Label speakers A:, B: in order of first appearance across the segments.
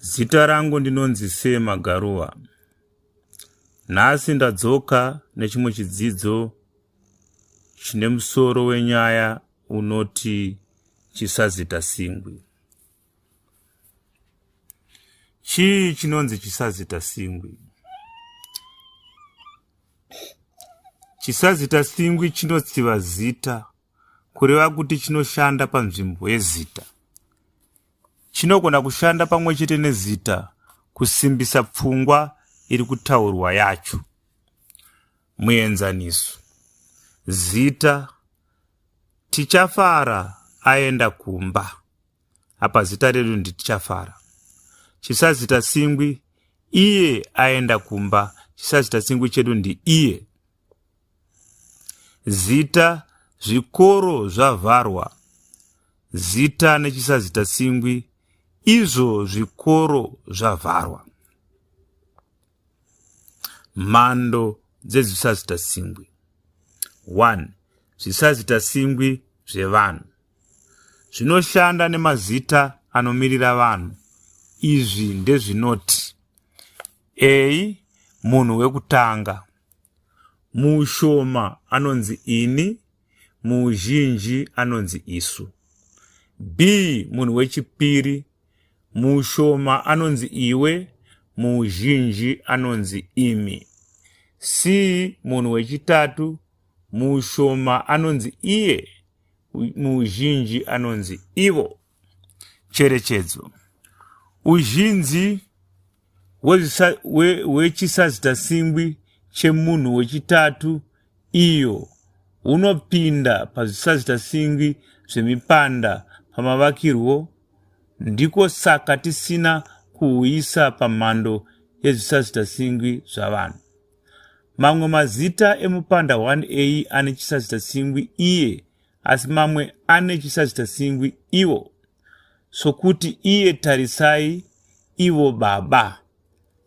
A: Zita rangu ndinonzi Sema Garuva. Nhasi ndadzoka nechimwe chidzidzo chine musoro wenyaya unoti chisazita singwi. Chii chinonzi chisazita singwi? Chisazita singwi chinotsiva zita kureva kuti chinoshanda panzvimbo yezita. Chinogona kushanda pamwe chete nezita kusimbisa pfungwa iri kutaurwa yacho. Muenzaniso, zita tichafara aenda kumba. Apa zita redu ndi tichafara. Chisazita singwi iye aenda kumba. Chisazita singwi chedu ndi iye. Zita zvikoro zvavharwa Zita nechisazita tsingwi izvo zvikoro zvavharwa Mhando dzezvisazita tsingwi 1 zvisazita tsingwi zvevanhu zvinoshanda nemazita anomirira vanhu izvi ndezvinoti a munhu wekutanga Muushoma anonzi ini, muuzhinji anonzi isu. B munhu wechipiri, muushoma anonzi iwe, muuzhinji anonzi imi. C munhu wechitatu, muushoma anonzi iye, muuzhinji anonzi ivo. Cherechedzo. Uzhinji hwechisazita-singwi chemunhu wechitatu iyo hunopinda pazvisazita-singwi zvemipanda pamavakirwo, ndiko saka tisina kuhuisa pamhando yezvisazita-singwi zvavanhu. Mamwe mazita emupanda 1a ane chisazita-singwi iye asi mamwe ane chisazvitasingwi ivo sokuti iye tarisai ivo baba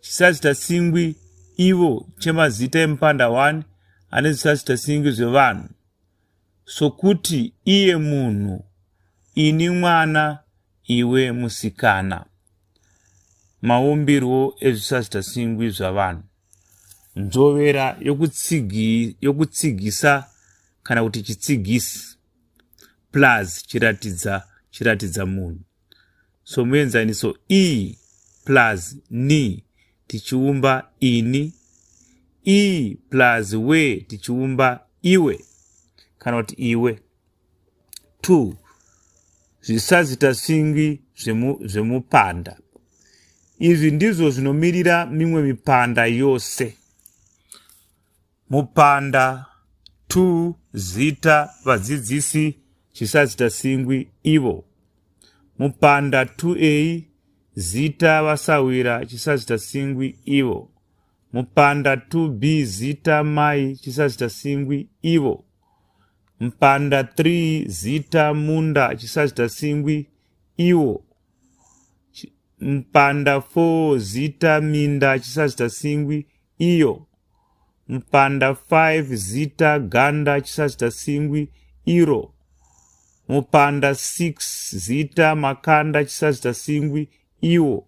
A: chisazvitasingwi ivo chemazita emupanda 1 ane zvisazvitasingwi zvevanhu sokuti iye munhu ini mwana iwe musikana maumbirwo ezvisazvitasingwi zvavanhu nzvovera yokutsigi, yokutsigisa kana kuti chitsigisi plus chiratidza chiratidza munhu somuenzaniso e plus ni tichiumba ini e plus we tichiumba iwe kana kuti iwe 2 zvisazita singwi zvemupanda zvemu izvi ndizvo zvinomirira mimwe mipanda yose mupanda 2 zita vadzidzisi chisazita singwi ivo mupanda 2a zita vasawira chisazita singwi ivo mupanda 2b zita mai chisazita singwi ivo Mpanda 3 zita munda chisazita singwi iwo Mpanda 4 zita minda chisazita singwi iyo Mpanda 5 zita ganda chisazita singwi iro Mupanda 6 zita makanda chisazita singwi iwo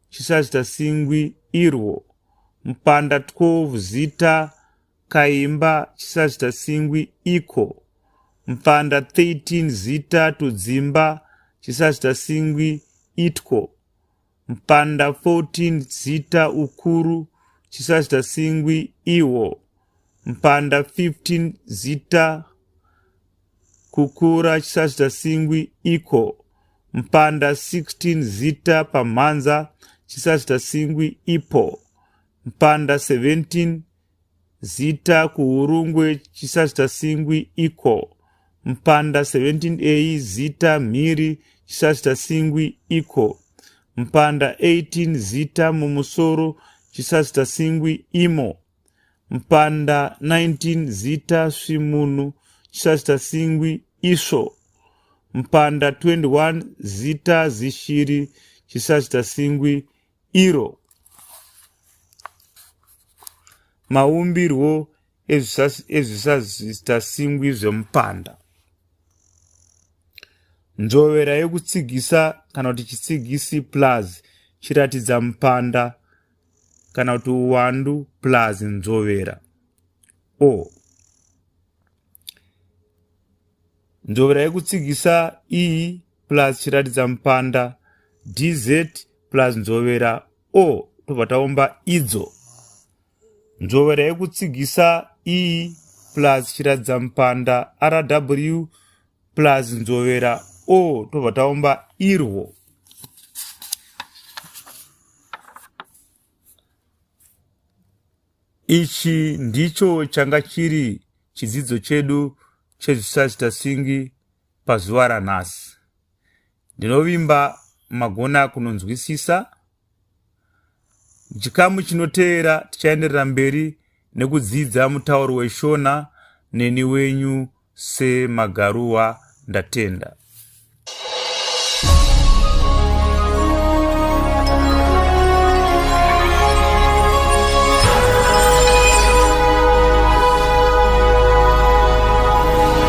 A: Chisazita singwi irwo. Mpanda 12 zita kaimba chisazita singwi iko. Mpanda 13 zita tudzimba chisazita singwi itwo. Mpanda 14 zita ukuru chisazita singwi iwo. Mpanda 15 zita Kukura chisazita singwi iko. Mpanda 16 zita pamhanza chisazita singwi ipo. Mpanda 17 zita kuhurungwe chisazita singwi iko. Mpanda 17a zita mhiri chisazita singwi iko. Mpanda 18 zita mumusoro chisazita singwi imo. Mpanda 19 Zita Svimunhu Chisasita Singwi Isvo Mpanda 21 Zita Zishiri Chisasita Singwi Iro Maumbirwo ezvisasita singwi zvemupanda Nzvovera yekutsigisa kana kuti chitsigisi plus chiratidza mupanda kana kuti uwandu plus nzovera o nzovera yekutsigisa e plus chiratidza mupanda dz plus nzovera o tobva taumba idzo nzovera yekutsigisa e plus chiratidza mupanda rw plus nzovera o tobva taumba irwo ichi ndicho changa chiri chidzidzo chedu chezvisazita singi pazuva ranhasi Ndinovimba magona kunonzwisisa. Muchikamu chinoteera tichaenderera mberi nekudzidza mutauro weShona neni wenyu seMagaruwa Ndatenda.